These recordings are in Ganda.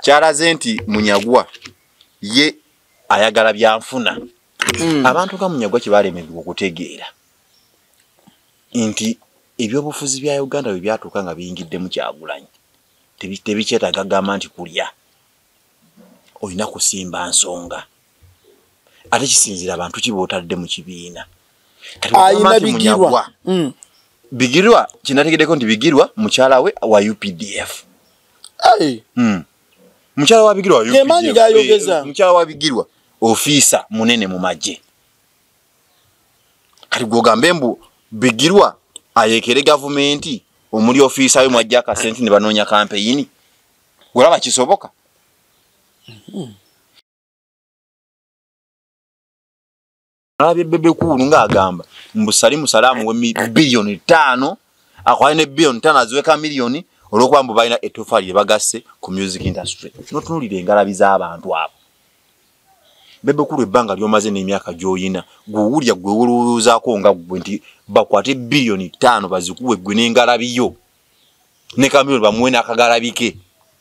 kyalaze nti munyagwa ye ayagala byanfuna mm. abantu nga munyagwa kyebalemedwa okutegeera nti ebyobufuzi bya uganda bwe byatuuka nga biyingiddemu kyagulanyi tebikyetaga gamba nti kulya olina kusimba nsonga ate kisinzira bantu ki botadde mu kibiina ayina bigirwa mm. bigirwa kinategeddeko nti bigirwa mukyala we wa updf hey. mm. mukyala wa bigirwa yemaanyi gayogeza eh, mukyala wa bigirwa ofiisa munene mu magye kati gwogambe mbu bigirwa ayekere gavumenti omuli ofiisa we mwajja akasente ne banoonya kampeyini olaba kisoboka mm -hmm. alabye bebe kuulu ng'agamba mbu salimu salaamu we biliyoni ttaano akwale ne biliyoni ttaano aziweka miliyoni olwokuba mbu balina ettofaali lye bagasse ku music industry notunulira engalabi z'abantu abo bebe kuulu ebbanga lyomaze n'emyaka gy'oyina gwewulya gwe wolowoozaako nga gwe nti bakwate biliyoni ttaano bazikuwe gwe n'engalabi yo ne kamiliyoni bamuwe n'akagalabike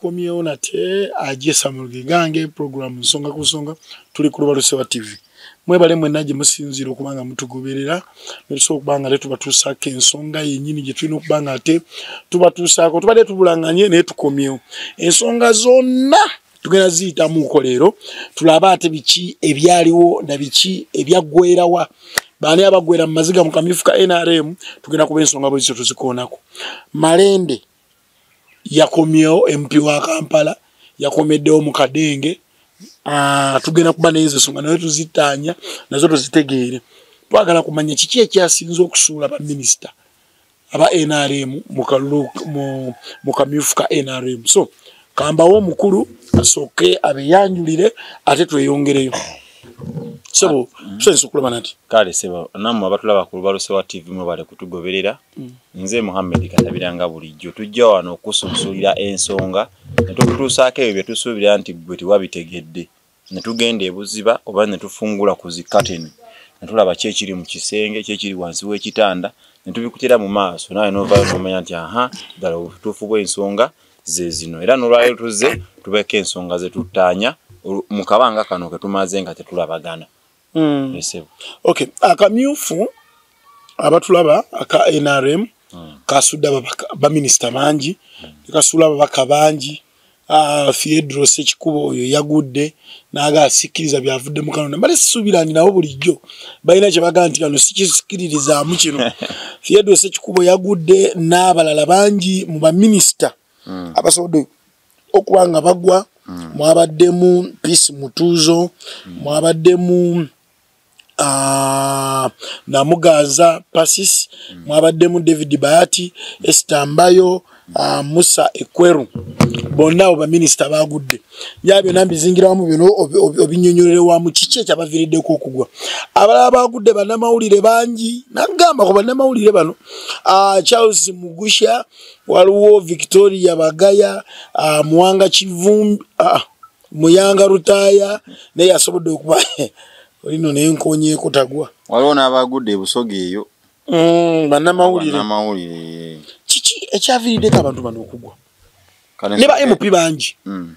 komyewo nate aje samulge gange program nsonga ku nsonga tuli ku lubalu sewa tv mwebale mwena gye musinziira okuba nga mutugoberera netusobola okuba nga te tubatuusaako ensonga yenyini gye tulina okuba nga ate tubatuusaako tubadde tubulanganye naye tukomyewo ensonga zonna tugenda ziyitamuuko leero tulabe ate biki ebyaliwo na biki ebyaggwerawa baani abaggwera mu maziga mu kamyufu ka nrm tugenda kuba ensonga bwezizo tuzikoonako malende yakomyewo mp wa kampala yakomeddewo mu kadenge ah, tugenda kuba naye zesonga naye tuzitaanya nazo tuzitegeere twagala kumanya kiki ekyasinza okusuula baminisita aba nrm mu kamyufu ka nrm so kambawo omukulu asooke abeyanjulire ate tweyongereyo sebo tusensa okulaba nati kale sebo namwe abatulaba ku lubaluso wa tv mwebale kutugoberera mm. nze muhammed katabiranga bulijjo tujja wano okusunsulira ensonga netukutuusaako ebyo byetusuubira nti gwe tewabitegedde ne tugenda ebuziba oba ne tufungula ku zikateni ne tulaba ki ekiri mu kisenge ki ekiri wansi w'ekitanda ne tubikutira mu maaso naawe novayo nomanya nti aha ddala obutuufu bw'ensonga ze zino era nolwaliro tuzze tubeeko ensonga ze tuttaanya mu kabanga kano ke tumaze nga tetulabagana mm. esebo okay akamyufu abatulaba aka nrm mm. kasudde baminisita bangi mm. kasuula ababaka bangi ah, fiedro sekikuba oyo yagudde naga asikiriza byavudde mukanona bale sisuubira nti nabo bulijjo balina kyebagaa nti kano sikisikiririzaamu kino fiedro sekikubo yagudde n'abalala bangi mu baminisita mm. abasobodde okuba nga bagwa mm. mwabaddemu peace mutuuzo mm. mwabaddemu uh, namuganza pasis mm. mwabaddemu david bayati esitambayo uh, musa ekweru bonna abo baminisita bagudde ya byona mbizingirawamu bino obinyonyolerewamu kiki ekyabaviriddeko okugwa abalala bagudde banamawulire bangi nagamba ku banamawulire bano uh, charles mugusha uh, waliwo victoria bagaya ah, muwanga kivumbi ah, muyanga rutaya naye asobodde okuba olino naye nkonyeko tagwa waliwo n'abagudde ebusoga eyo mm, banamawulire kiki ekyavirideko abantu bano okugwa ne ba mp bangi mm.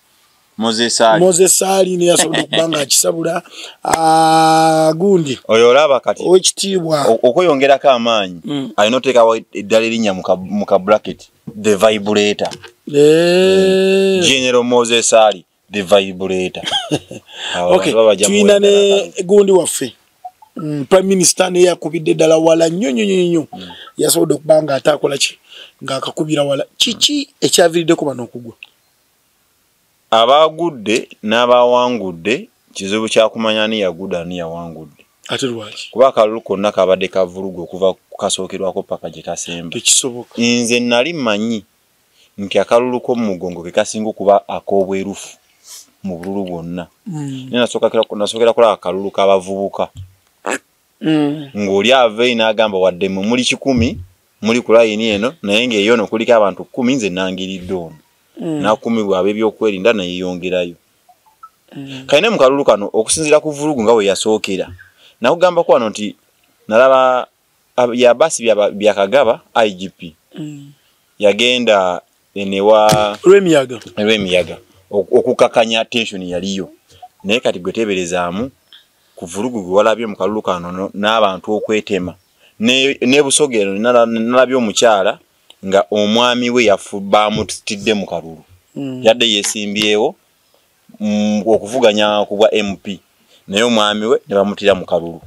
mozesali neyasobola okuba nga akisabula ah, gundi oyo olaba kati owekitiibwa okweyongerako amaanyi mm. alina oteekawo eddala erinnya mu ka bracket the vibrator eh. mm. general mozesali the vibrator tulina ne gundi waffe mm, prime minister neyakubidde ddala wala nnyo nnyo nnyo nnyo yasobodde okuba nga ate akola ki ng'akakubira wala kiki ekyaviridde ku bano okugwa abaagudde n'abaawangudde kizibu kya kumanya ani yagudde ani yawangudde ate lwaki kuba akalulu konna kabadde kavuluga okuva kasookerwako paka gye kasemba ekisoboka nze nali manyi nti akalulu k'omugongo ke kasinga okuba ak'obwerufu mu bululu bwonna hmm. naye nasookera kulaba akalulu k'abavubuka mm. ng'oli aveyi n'agamba wadde mwe muli kikumi muli ku layini eno naye ng'eyo ono kuliko abantu kkumi nze nangiridde ono mm. n'akumibwa ab'ebyokwerinda neyeyongerayo mm. kale ne mu kalulu kano okusinziira ku vulugu nga bwe yasookera nakugambako wano nti nalaba yabaasi byakagaba igp mm. yagenda lwemiyaga lwemiyaga okukakanya tension yaliyo naye kati gwe teberezaamu ku vulugu gwe walabye mu kalulu kano n'abantu okwetema ne busoga eno nalabye omukyala nga omwami we yafu baamutidde mu kalulu hmm. yadde yesimbyewo mm, okuvuganya ku bwa mp naye omwami we ne bamutira mu kalulu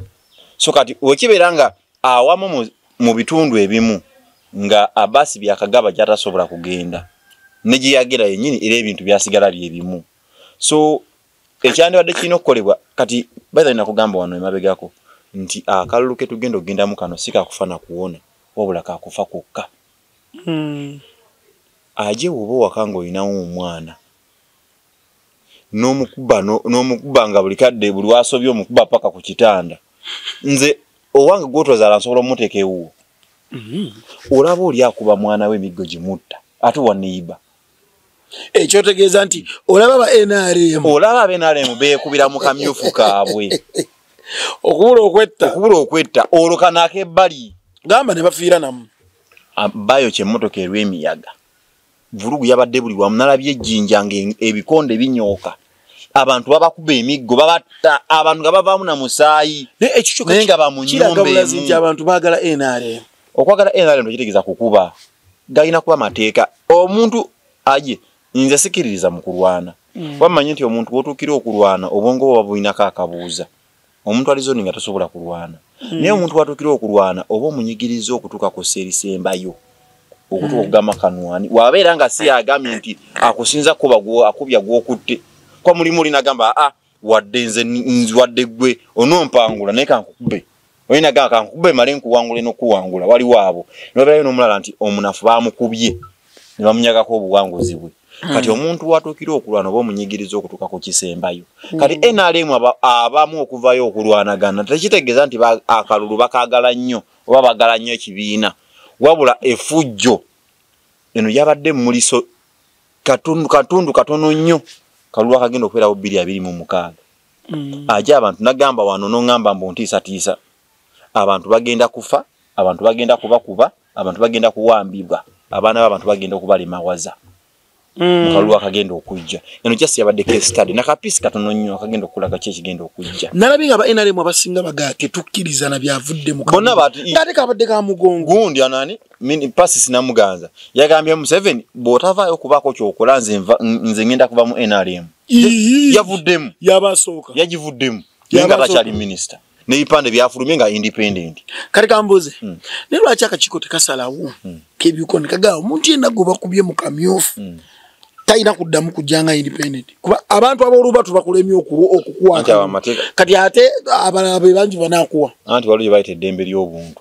so kati wekibeera nga awamu mu bitundu ebimu nga abasi byakagaba gyatasobola kugenda ne gye yagera yennyini era ebintu byasigala bye bimu so ekyandibadde kirina okukolebwa kati baitha nina kugamba wano emabegako nti akalulu ke tugenda okugendamu kano si kakufa na kuwona wabula kakufa kwokka hmm. aje woba owaka nga olinawo omwana nomukuba nomukuba nga buli kadde buli wasobye omukuba paka ku kitanda nze owange gwotwazala nsobola omuteeka ewuwo mm-hmm. olaba oli akuba mwana we emiggo gimutta ate waneyiba ekyotegeeza nti olaba ba nrm olaba aba nrm beekubira mu kamyufu kaabwe okubula okwetta okubula okwetta olwo kanaako ebbali gamba ne bafiira namu bayo kyemotoka erw'emiyaga vulugu yabadde buli wamu nalabye ejjinja nga ebikonde binyooka abantu babakuba emiggo babatta abantu nga bavaamu na musaayi naye nga bamunyumbaekinti abantu bagala nrm okwagala nrm tekitegeeza kukuba galina kuba mateeka omuntu aye nze sikiririza mu kulwana mm. wammanyi nti omuntu wotuukira okulwana obwongo bwe babulinako akabuuza omuntu ali zoni nga tasobola kulwana mm. naye omuntu watukira okulwana oba omunyigiriza okutuka ku serisembayo okutuka mm. okugamba kanwani wabeera nga si agambye nti akusinza kuba akubya gwokutte kwa mulimu olinagamba a ah, wadde nze wadde gwe onompangula naye kankukube oyina gamba kankukube male nkuwangule nokuwangula waliwo abo noberayo nomulala nti omunafu bamukubye ne bamunyagako obuwanguzi bwe hmm. kati omuntu watuukira okulwana oba omunyigiriza okutuuka ku kisembayo hmm. kati nrm abamu okuvayo okulwanagana tekitegeeza nti akalulu bakagala nnyo oba bagala nnyo ekibiina wabula efujjo eno yabadde muliso katundu katundu katono nnyo kalulu akagenda okubeerawo bbiri abiri mu mukaaga hmm. aja abantu nagamba wano nongamba mbu ntiisatiisa abantu bagenda kufa abantu bagenda kubakuba abantu bagenda kuwambibwa abaana b'abantu bagenda okubalemawaza mm. mukalulu akagenda okujja eno just yabaddeko estade nakapiisi katono nnyo akagenda okulaga ki ekigenda okujja nalabi nga ba nrm abasinga bagaa tetukkiriza na byavudde mukate kabadde ka mugongo gundi anani pasisi namuganza yagambye museveni bw'otavaayo okubaako kyokola nze ngenda kuva mu nrm yavuddemu yabasooka yagivuddemu naye nga takyali minisita n'ebipande byafulumye nga independent kati kambuuze mm. naye lwaki akakiiko tekasalawo mm. kebyuko nekagaa omuntu yenna gwe bakubye mu kamyufu mm. talina kuddamu kujja nga independent kuba abantu ab'oluba tubakulemye okukwata kati ate abalala be bangi banakuwa anti waliwo gye bayita eddembe ly'obuntu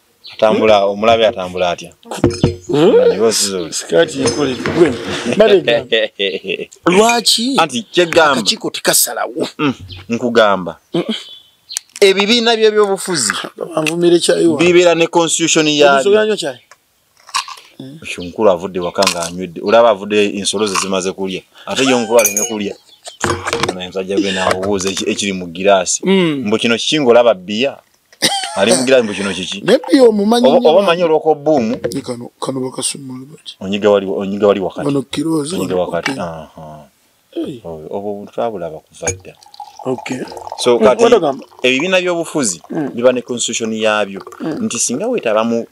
atambula omulabe atambula atya lwaki anti kyegambakiko tekasalawo mm, nkugamba ebibiina byebyobufuzi bibeera ne constitution yabyo onkulu avudde waka nga anywedde olaba avudde ensolo ze zimaze kulya ate yo nkulu aleme kulya omusajja gwe namubuuza ekiri mu giraasi mm. mbu kino kikinga olaba bbiya alimugira mbu kino kiki naye omumanyi oba omanyi olwoko bbuumu kano kano bakasumula bati onyiga wali onyiga wali wakati ono kirozi onyiga wakati aha obwo obuntu twabulaba kuva dda Okay. So mm, kati ebibiina by'obufuzi mm. biba ne constitution yaabyo mm. nti singa weetaba mu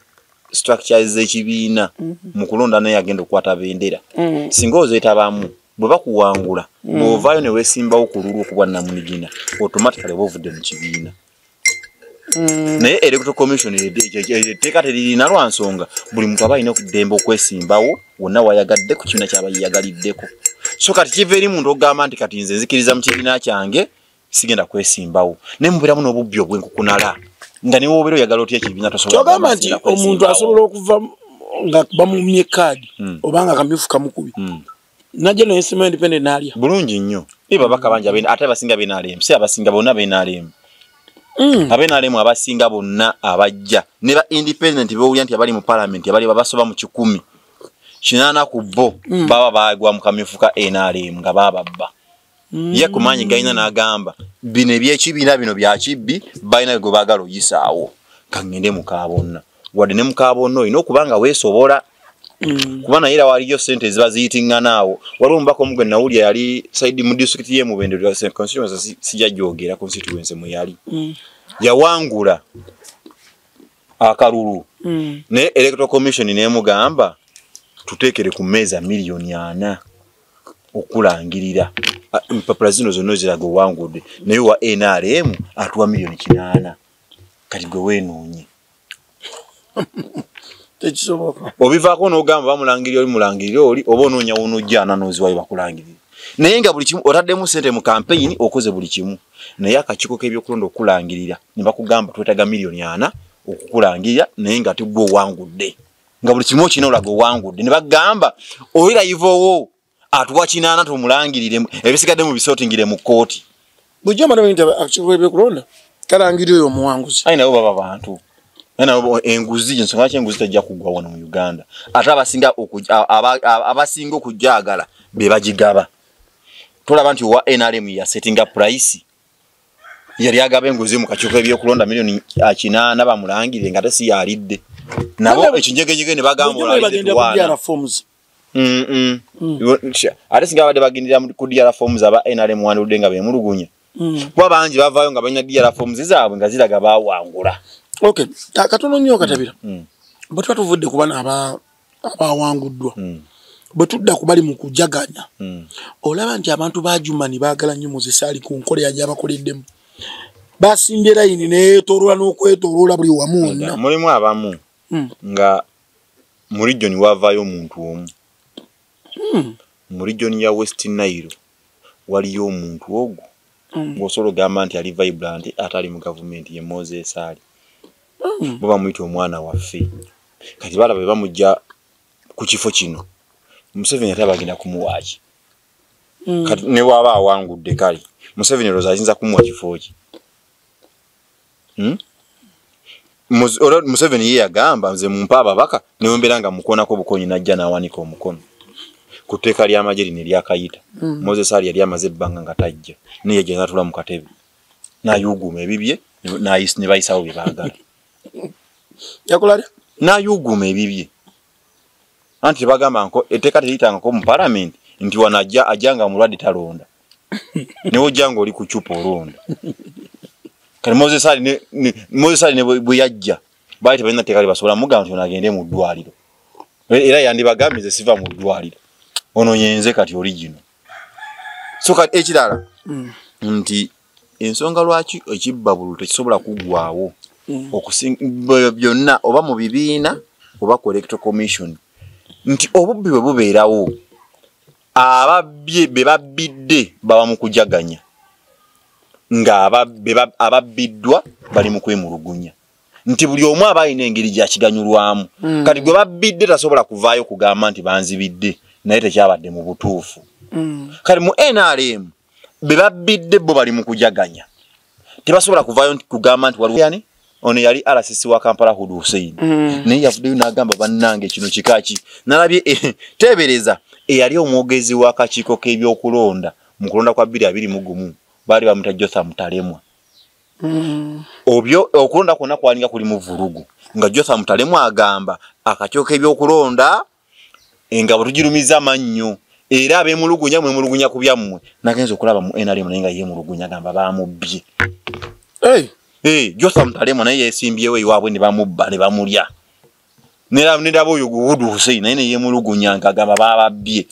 structures z'ekibiina mm. mu kulonda naye agenda okukwata bendera mm. singa ozeetabamu bwe bakuwangula mm. bw'ovaayo ne weesimbawo ku lulwo ku bwannamunigina automatically oba ovudde mu kibiina Mm. naye electoral commission etteeka teririna lwa nsonga buli muntu aba alina okudemba okwesimbawo wonna wayagadde ku kibiina kyaba yeyagaliddeko so kati kiva eri muntu okugamba nti kati nze nzikiriza mu kibiina kyange sigenda kwesimbawo naye mubeeramu n'obubbi obwenkukunala nga niwe obeera oyagala otya ekibiina tosobolagamba nti omuntu asobola okuva nga bamumye kaadi hmm. obanga akamyufu kamukubi hmm. naje no nsima independent nalya bulungi nnyo biba bakabanja bene ate abasinga bene alemu si abasinga bona bene alemu Mm. abe nalemu abasinga bonna abajja ne ba independent bewulira nti abali mu parliament abali babasoba mu kikumi kinana ku bo mm. baba bagwa mu kamyufu ka nrm nga bababba ye ku maanyi galina n'agamba bino ebyekibiina bino bya kibbi balina gwe baagala oyisaawo kangende mukaabonna wadde ne mukaabonna olina okuba nga weesobola mm. kuba naye era waliyo sente eziba ziyitingana awo waliwo omubaka omu gwe nawulya yali saidi mu disitulikiti ye mubendesija gyogera constituense mwe yali mm. yawangula akalulu mm. ne electoral commission nemugamba tutekere ku meza milioni ana okulangirira empapula zino zonna ziraga owangudde naye wa nrm atuwa milioni kinaana kati gwe wenoonye tekisoboka obivaako nogamba bamulangirira oli mulangirira oli oba onoonya wonojja ananooziwayo bakulangirira naye nga buli kimu otaddemu sente mu kampeyini okoze buli kimu naye akakiiko k'ebyokulonda okukulangirira ne bakugamba twetaga miliyoni ana okukulangirira naye nga tigwe owangudde nga buli kimu okina olaga owangudde ne bagamba oyirayivaowo atuwa kinaana tumulangirire ebisigadde mu bisotingire mu kkooti Bujja mara bintu actually be kulonda. Kala ngiri yo muwanguzi. Ai nabo baba bantu. Ai nabo enguzi jinso ngache enguzi tajja kugwa wano mu Uganda. Ata abasinga okuja abasinga okujagala be bajigaba. Tola bantu wa NRM ya setting up price. Yali agaba enguzi mu kachuko ebyo kulonda milioni akina naba mulangire ngate si yalidde. Nabo ekinjegejege ne bagamba olali. Bagenda kubyara forms. Mm, mm. Mm. Iwe- nsha- ate singa babadde bagendera mu- ku dr forms aba nrm wandudde nga bemulugunya Mm. kuba bangi bavaayo nga balina dr forms zaabwe nga ziraga bawangula okay ka- katono nnyo katabira Mm. bwe tuba tuvudde ku bano aba- abawanguddwa Mm. bwe tudda ku bali mu kujaganya Mm. olaba nti abantu ba jumani baagala nnyo muzisaali ku nkola ya gyabakoleddemu basimbye layini neyetoloola n'okwetoloola buli wamu wonna mulimu abamu Mm. nga mu region wavaayo omuntu omu hmm. mu region ya west nile waliyo omuntu ogwo hmm. ng'osobola ogamba nti ali vibrant atali mu gavumenti ye mozesaali hmm. bo bamuyita omwana waffe kati balaba be bamugja ku kifo kino museveni ate abagenda kumuwaaki kati ne waaba awangudde kale museveni eroza ayinza kumuwa kifo ki Hmm? Muz- ora- museveni ye yagamba nze mumpa ababaka newembeera nga mukonako bukonyi najja nawanika omukono ku tteeka ly'amagye lino eryakayita moses ali yali amaze ebbanga nga tajja naye yajja natula mu katebe nayuuguuma ebibye ne- nayis- ne bayisawo bye baagala yakola atya? nayuuguuma ebibye anti tebagamba nko etteeka teriyitangako mu palamenti nti wano ajja ajja nga mulwadde talonda newe ojja nga oli ku cupa olonda kati moses ali ne- ne- moses ali ne bwe bwe yajja baali tebalina tteeka libasobola mugamba nti ono agende mu ddwaliro E- era yandibagambye nze siva mu ddwaliro ono yenze kati oli gino so kati ekirala nti ensonga lwaki ekibbabulu tekisobola kuggwawo mm. byonna oba mu bibiina oba ku electoral commission nti obubbi bwe bubeerawo ababbye be babbidde baba mu kujaganya ng'ababbiddwa bali mu kwemulugunya nti buli omu aba alina engeri gyakiganyulwamu mm. kati gwe babbidde tasobola kuvaayo kugamba nti banzibidde naye tekyabadde mu butuufu mm. kati mu nrm bebabbidde bo bali mukujaganya tebasobola kuvayo nti kugamba nti waliwo yani ono yali RCC wa Kampala Hud Hussein mm. naye yavuddeyo n'agamba bannange kino kikaki nalabye eh, teebereza eyali omwogezi w'akakiiko k'ebyokulonda mu kulonda kwa bbiri abiri mu gumu baali bamuta Jotham Talemwa mm. obyo okulonda kwonna kwalinga kuli mu vvulugu nga Jotham Talemwa agamba akakiiko k'ebyokulonda engabo tugirumiza amannyo era abemulugunya mwemulugunya ku byammwe nagenza okulaba mu nrm naye nga yemulugunya gamba bamubbye josa mutalemu naye yesimbyewo iwaabwe ne bamubba ne bamulya neraba oyo guwudu husein naye neyemulugunya nti agamba bababbye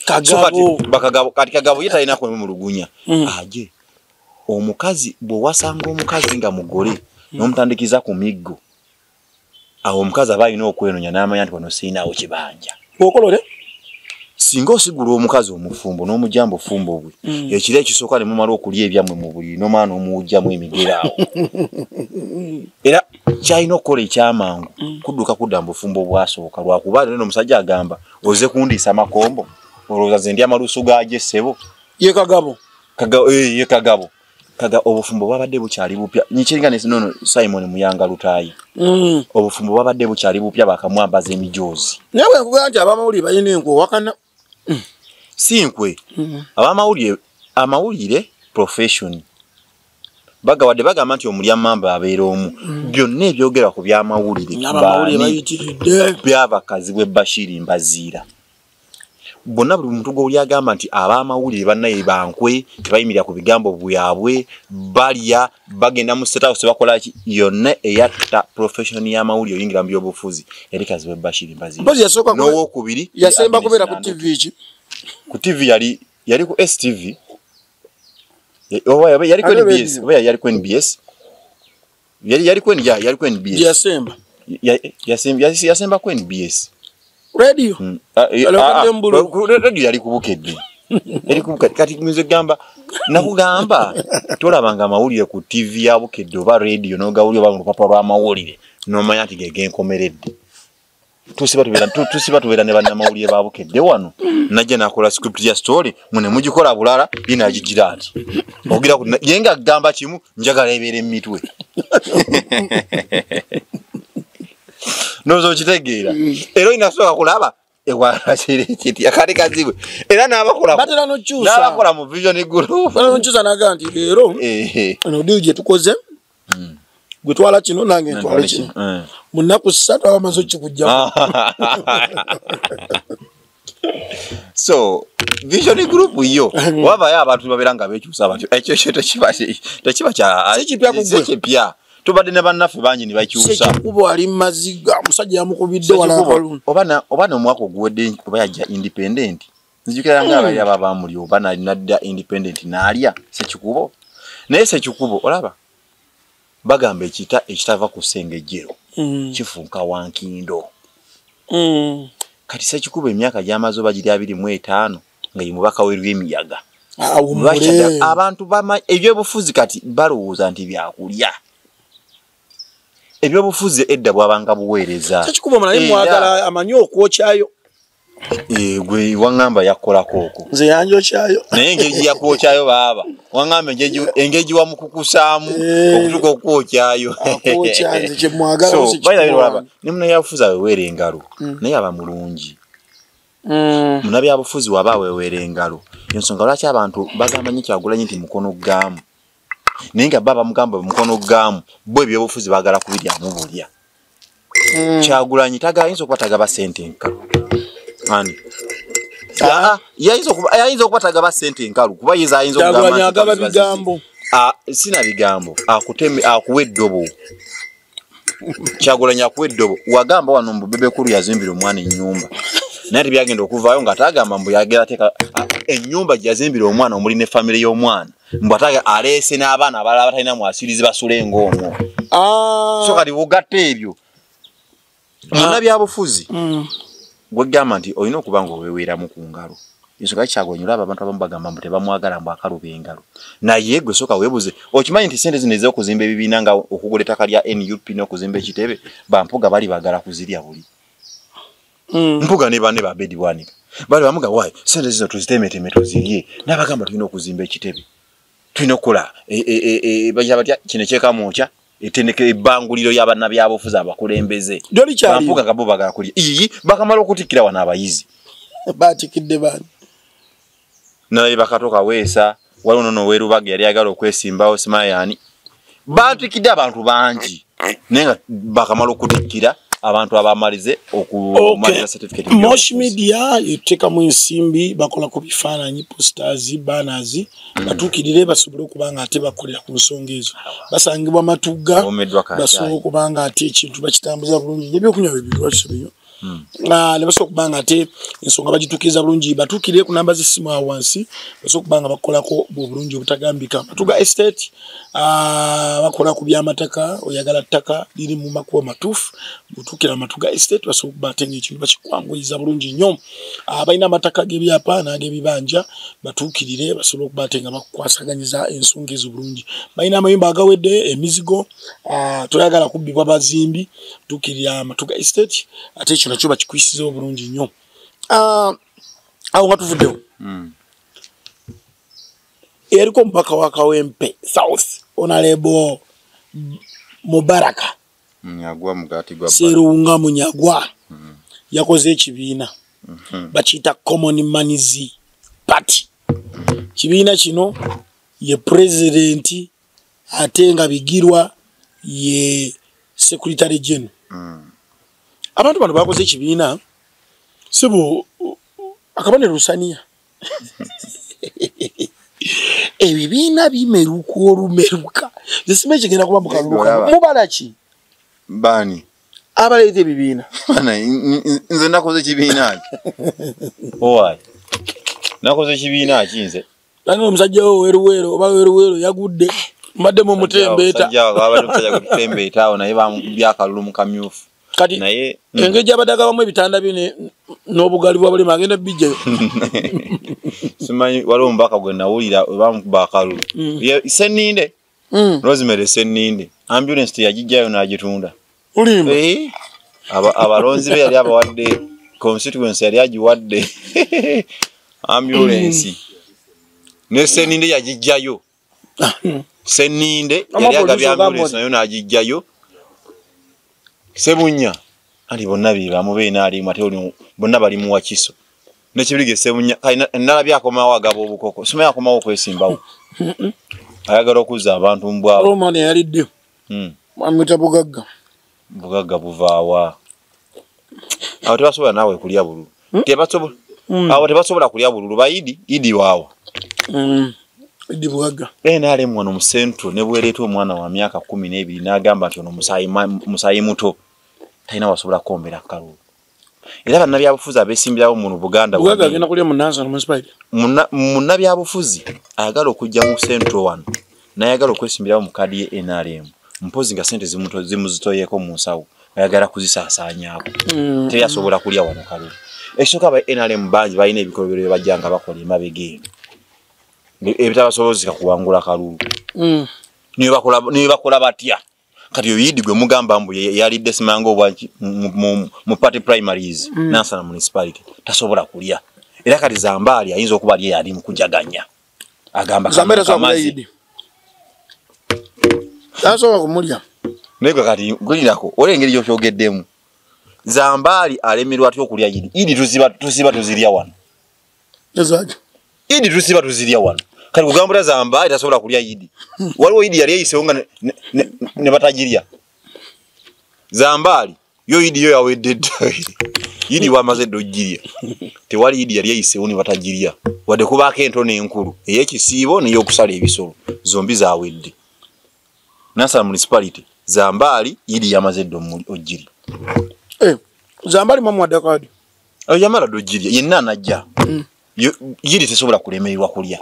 kati kagabo ye talina kwemulugunya mm. aje omukazi bwewasanga omukazi nga mugole mm. nomutandikiza ku miggo awo omukazi aba alina okwenonya n'amanya nti wano sirinaawo kibanja okolole singa osigula omukazi omufumbo n'omujambo fumbo bwe mm. ekiro ekisooka ne mumala okulya ebyammwe mu buliri n'omwana omuwujjamu emigeraawo era kyalina okukola ekyamangu mm. kudduka kudda mu bufumbo obwasooka lwakuba lero no omusajja agamba oze kundiisa makombo olowooza ze ndi amaluusu gaagyo essebo ye kagabo kagabo eh, ye kagabo kaga obufumbo bwabadde bukyali bupya nyikiringa nesinono simon muyanga lutayi mm. obufumbo bwabadde bukyali bupya bakamwambaza emijoozi naye bwekugamba nti abamawulire balina enkwe owakana mm. si nkwe mm. abamawulire amawulire profession bagawadde bagamba nti omulya mamba abeera omu mm. byonna ebyogerwa ku byamawulire byabakazi bwe bashiri mbaziira bonna buli muntu gwewuli agamba nti abamawulire banaye bankwe tebayimirira ku bigambo byabwe balya bagenda mu state house bakolaki yonna eyatta profession y'amawulire oyingira mu byobufuzi yali kazibe bashiri mbazinowokubiri yasemba kubeera ku tv ki ku tv yali yali ku stv yali ku nbs yali yali kwen ya yali kwen bs yasemba yasemba yasemba kwen bs radio hmm. ah, eh, ah, ah, radio yali kubukedde yali kubukedde kati nze gamba nakugamba tolabanga amawulire ku tv ya bukedde oba radio nogawulire oba mu lupapula lw'amawulire nomanya nti gegenkomeredde tusiba tubera tusiba tubera ne banama uliye babu kede wano naje nakola script ya story mune mujikola bulala ina ajijira ati ogira ku yenga gamba kimu njagala ebere mitwe nozo kitegeera ero ina soka kulaba ewa asire kiti akari kazibwe era naba kola batera no chusa naba kola mu vision group no chusa naganti ero eh eh no dije tukoze mm. gwe twala kino nange ntwale kino eh. mu nnaku ssatu aba maze okikugjamu so vision group yo mm. wabayo abantu babeera nga bekyusa batyo ekyo kyo tekiba kyakipya tubadde ne bannaffe bangi ne bakyusa kuba ali mumaziga omusajja yamukubidde walaoba nomwaka oguwedde oba yajja independenti nzijukira yanga hmm. abalya baba bamuli oba nadda independent naalya sekikubo naye sekikubo olaba bagamba ekita ekitava ku sengejjero hmm. kifunka wankindo hmm. kati sekikubo emyaka gyamaze oba giri abiri mu etaano nga ye mubaka werwemiyaga ah, abantu ebyobufuzi kati balowooza nti byakulya ebyobufuzi edda bwabanga buweereza sekikubo mulaye mwagala amanyi okwokyayo Eh, gwe wangamba yakolako oko nze yanjokyayo naye engeri gyeyakwokyayo baaba wangamba engeri gye wamukukusaamu eh. okutuka okukwokyayo ne muna yabufuzi aweweera engalo mm. naye aba mulungi mm. muna byabufuzi waba aweweera engalo ensonga lwaki abantu bagamba nyo kyagulanyi nti mukono gaamu naye nga baba mugamba mukono gamu bwe byobufuzi bagala kubirya mubulya mm. kyagulanyi tagala yinza okuba tagaba sente nkalu ani ah. yayinza okuba tagaba sente nkalu kuba yeza ayinza okugamba bigambo ah, sina bigambo akuwa eddobo kyagulanyi akuwa eddobo wagamba wano mbu bebekulu yazimbira omwana enyumba naye tebyagenda okuvaayo nga atagamba mbu yagera ateeka enyumba gyeyazimbira omwana omuli ne famire y'omwana mbu ate aleese n'abaana abalala batalina mwasirizi basule ngaomwo ah. so kati ugatta ebyo munnabyabufuzi mm. gwegamba nti olina okuba nga oweweeramu ku ngalo ensonga kyagulanyi olaba abantu abamu bagamba mbu tebamwagala mbu akaluba engalo naye gwe soka webuze okimanyi nti sente zino ezokuzimba ebibiina nga okugula ettaka lya nup n'okuzimba ekitebe bampuga bali bagala kuzirya buli mm. mpuga ne bane babedi bwanika bali bamuga wayi sente zino tuzitemeteme tuzirye n'abagamba tulina okuzimba ekitebe tulina okukola e, e, e, bagira batya kino ekyekamwokya etendeka ebanguliro yabanabyabufuzi abakulembeze ampuga gabo bagala kulya iyi bakamala okutikkira wano abayizi batikidde bani nalaye bakatoka weesa waliwo nono werubage yali agala okwesimbawo simayani bantikidde abantu bangi naye nga bakamala okutikkira abantu abamalize okumaliza certificate mosh media yetekamu ensimbi bakola ku bifaananyi posters banners hmm. batuukirire basobole okuba nga ate bakolera ku nsonga ezo basangibwa matugga basobola okuba nga ate ekintu bakitambuza bulungi nebyokunywa bibirwakisebyo Hmm. Ah, ne basobola okuba nga ate ensonga bagitukiriza bulungi batuukire ku namba z'essimu awo wansi basobola okuba nga bakolako obulungi obutagambika matuga estate ah, bakola ku byamataka oyagala ttaka liri mu makuba matuufu butuukira matuga estate basobola okuba ate ngaekintu bakikwanguyiza bulungi nnyo ah, balina amataka g'ebyapa n'ag'ebibanja batuukirire basobola okuba ate nga bakukwasaganyiza ensonga ezo bulungi balina amayumba agawedde emizigo Ah, toyagala kubbibwa bazimbi tukirira amatuga estate ate ekyo nakyo bakikwisiza obulungi nnyo ah, awo nga tuvuddewo hmm. eriko omubaka wa kawempe south onalebo mubaraka serunga munyagwa hmm. yakoze ekibiina hmm. bakiyita common manizi party kibiina kino ye pulezidenti ate nga bigirwa ye secretary general mm. abantu bano bakoze ekibiina sibu akabonero lusaniya ebibiina bimeruka olumeruka zisima ekigenda kuba mukaluluka mubala ki bani abaleeta ebibiina nze nakoze ekibiina ki owaye nakoze ekibiina ki nze Nange omusajja wo weruweero oba weruweero yagudde mbadde mu mutembeeta. Kati mm. engeri gyabadde agabamu ebitanda bye n'obugali bwa bulema agenda bijjayo. Simanyi waliwo omubaka gwe nawulira oba mukuba akalulu. Mm. Seninde. mm. rosemary seninde ambulance teyagijjayo nagitunda olimba eh? abalonzi be yali abawadde constituency yali agiwadde ambulance mm. ne seninde yagijjayo ah, mm. seninde yali agabye ambulance nayo nagijjayo sebunya ali bonna biba mube nali mate oli bonna bali mu wakiso ne kibirige sebunya kai nala bya koma wa gabo bukoko sima ya koma okwesimba u ayagara okuza abantu mbwa o oh, mane yali dio mm mwamita bugagga bugagga buvawa awo tebasobola nawe kulya bulu hmm? tebasobola hmm. awo tebasobola kulya bulu bayidi idi wawo mm idi bugagga eh nale mwana mu central ne bweleto omwana wa miaka 12 nagamba nti ono musayi musayi muto talina wasobola kukombera kalulu era bannabyabufuzi abesimbirawo muno buganda munnabyabufuzi ayagala okujja mu central wano nayagala okwesimbirawo mu kaadi ye nrm mpozi nga sente zimuzitoyeko mu nsawo ayagala kuzisaasaanyako mm. teri asobola kulya wano kalulu ekisooka aba nrm bangi balina ebikolobero byebajja nga bakola emabega eno ebitabasobozeka kuwangula kalulu mm. nibakola batya kati oyo yidi gwe mugamba mbu yalidde simanga obwa mu party primaries mm. nansana municipality tasobola kulya era kati zambaali ayinza okuba ali eyali mukujaganya agamba kamazi tasobola kumulya naye gwe kati gulinako olaba engeri gyokyogeddemu zambaali alemerwa atya okulya yidi yidi tuziba tuziba tuzirya wano ezaki idi tusiba tuzirya wano kati kugambula zamba etasobola kulya idi waliwo idi yali eyisewo nga ne batagirya zambaali yo idi yo yawedde dda idi wamaze dda ogirya tewali idi yali eyisewo ne batagirya wadde kubaako ento n'enkulu ey'ekisiibo ney'okusala ebisolo zombi zawedde nasala municipality zambaali idi yamaze dda ogirya eh, zambaali mwamuwadde kaadi oyo yamala dogirya yenna anajja mm. yiri tesobola kulemererwa kulya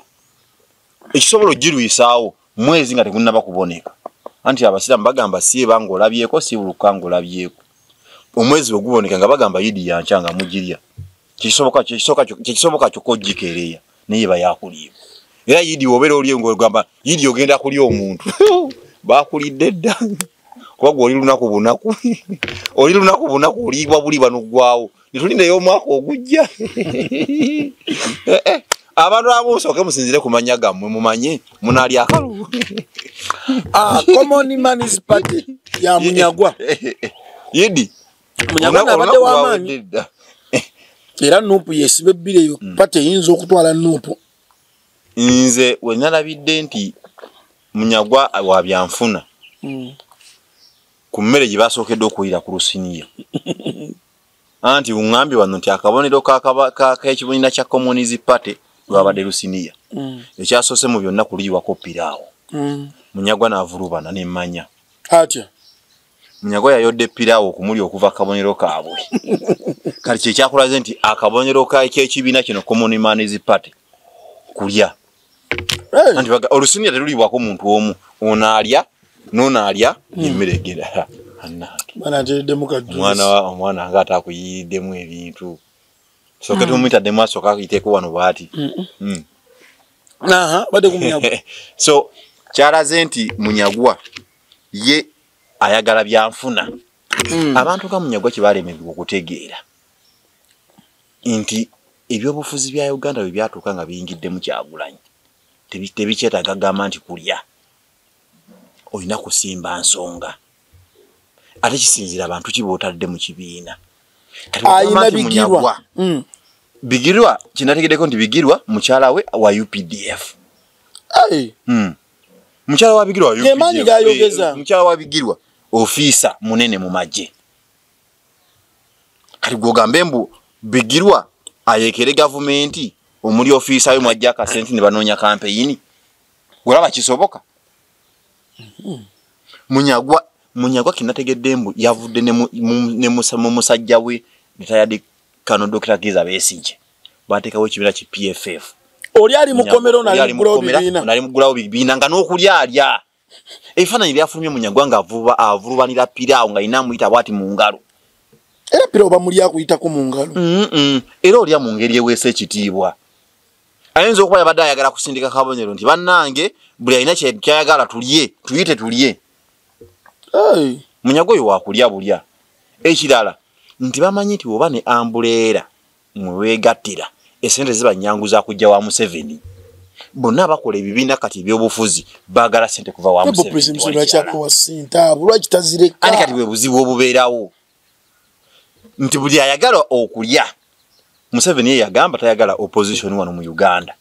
ekisobola ogirwisaawo mwezi nga tegunaba kuboneka anti abasiraamu bagamba sieba ngaolabyeko sibuluka ngaolabyeko omwezi bwe guboneka nga bagamba yidi yankya nga mugirya kyekisoboka kyokka ogikeereya naye bayakuliibwa era yidi obeera oli ngogamba yidi ogenda kulya omuntu bakulidde dda kuba gwe oli lunaku bunaku oli lunaku bunaku oliibwa buli banugwawo netulindeyo omwaka ogujja eh, eh. abantu abusooke musinzire ku manya gammwe mumanye munalya akalu ah, common manis party ya munyagwa yidi munyarwanda abadde wamaanyi era nuupu yesiba ebbiri eyo mm. pati eyinza okutwala nuupu nze wenalabidde nti munyagwa wa byanfuna mm. ku mmere gye basookedde okuwulira ku lusiniya anti ungambye wano nti akabonero kekibonina kya communis party lwabadde mm. lusiniya ekyasoose mu byonna kuliyiwako piraawo munyagwa navulubana nemanya atya munyago yayodde piraawo okumuli okuva akabonero kaabwe kati kyekyakulaze nti akabonero kekyekibiina kino common mans party kulya anti olusinia teluliibwako muntu omu ono alya nono alya hmm. emmere egenda omwana nga ate akuyiyiddemu ebintu soke hmm. tumwitaddemu asooka akuyiteeko wano bwati hmm. so kyalaze nti munyagwa ye ayagala byanfuna mm. abantu nga munyagwa kyebalemedwa okutegeera nti ebyobufuzi bya uganda bwe byatuuka nga biyingidde mu kyagulanyi tebikyetaaga gamba nti kulya olina kusimba nsonga ate kisinzira abantu ki bootadde mu kibiina ayina bigirwa mm. bigirwa kyenategeddeko nti bigirwa mukyala we wa updf mm. mukyala wa bigirwa Ge maanyi ayogedde- g'ayogeza. eh, mukyala wa bigirwa ofiisa munene mu magye kati gwogambe mbu bigirwa ayekere gavumenti omuli ofiisa we mwajja akasente ne banoonya kampeyini olaba kisoboka munyagwa munyagwa kinategedde mbu yavudde ne mu- mu- ne musa- mu musajja we ritayadi kano dokita kiza besigye batekawo ekibira ki PFF oli ali mukomero na ali mugulawo bibina na ali mugulawo bibina nga nokuli alya efana ili afulumye munyagwa nga avuba avuluba nila pira nga inamu ita wati mungalo era pira oba muli akuyita ku mungalo mm -mm. era oli amungeri ewese kitibwa ayenze okuba yabadde ayagala kusindika kabonero nti bannange buli alina kyayagala tulye tuyite tulye munyago oyo wakulya bulya ekirala nti bamanyi nti oba ne ambuleera mwewegattira esente ziba nyangu za kujja wa museveni bonna bakola ebibiina kati ebyobufuzi bagala sente kuva wa ani kati bwe buzibu obubeerawo nti buli ayagala okulya museveni ye yagamba tayagala opposition wano mu uganda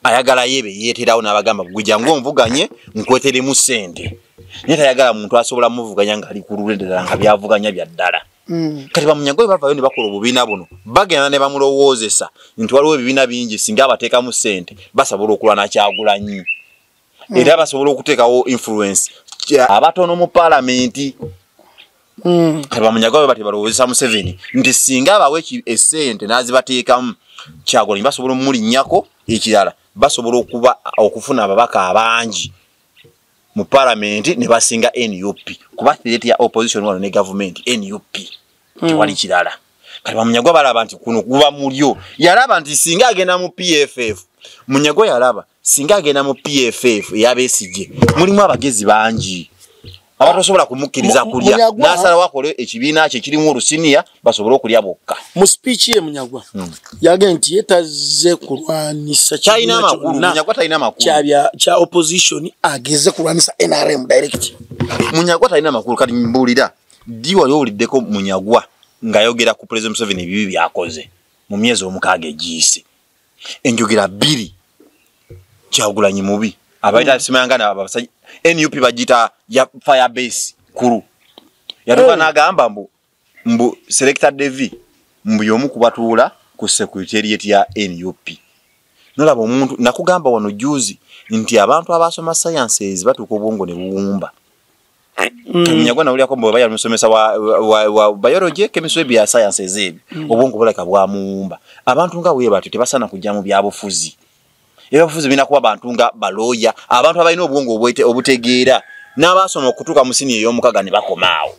ayagala yebe yeterawo nabagamba gweja ngo mvuganye nkwetele mu sente naye tayagala muntu asobola muvuganya nga ali ku lulwe ddala nga byavuganya bya ddala mm. kati bamunyago bwe bavayo ne bakola obubiina buno bagenda ne bamulowoozesa nti waliwo ebibiina bingi singa abateekamu ssente basobola okulwa nakyagulanyi mm. era basobola okuteekawo influence abatono mu palamenti mm. bamunyaga bwe bati balowozesa museveni nti singa abawo esente n'azibateekamu kyagulanyi basobola omumulinnyako ekirala basobola okuba okufuna ababaka abangi mu palamenti ne basinga nup kuba threat ya opposition wano ne gavumenti nup mm. tewali mm. kirala kati bamunyagwa balaba nti kuno kuba mulyo yalaba nti singa agenda mu pff munyagwa yalaba singa agenda mu pff eyabesigye mulimu abagezi bangi abatosobola kumukkiriza kulya nasalawo akole ekibiina kye kirimu olusiniya basobole okulya bokka mu sipiiki ye munyagwa hmm. yage nti ye tazze kulwanyisa kyalina amakulu munyagwa talina makulu kya opposition ageze kulwanyisa nrm direct munyagwa talina makulu kati mbuulira ddi wali owuliddeko munyagwa ng'ayogera ku pulezidenti museveni ebibi byakoze mu myezi omukaaga egiyise enjogera bbiri kyagulanyi mubi abaita simangana abasajja nup bagiyita ya fire base kulu yatuka eh. n'agamba mbu mbu selecta devi mbu y'omu kubatuula ku secretariat ya nup nolaba omuntu nakugamba wano juzi nti abantu abaasoma sciences batuuka obwongo ne buwumba Mm. munyagwa nawulirako mbu oba yali musomesa wa, wa, wa biology chemistry bya science ezeebyo mm. obwongo bulaka bwamuwumba abantu nga wewe batyo tebasaana kujja mu byabufuzi ebyabufuzi birina kuba bantu nga balooya abantu abalina obwongo obutegeera n'abaasoma okutuuka mu sini ey'omukaga ne bakomaawo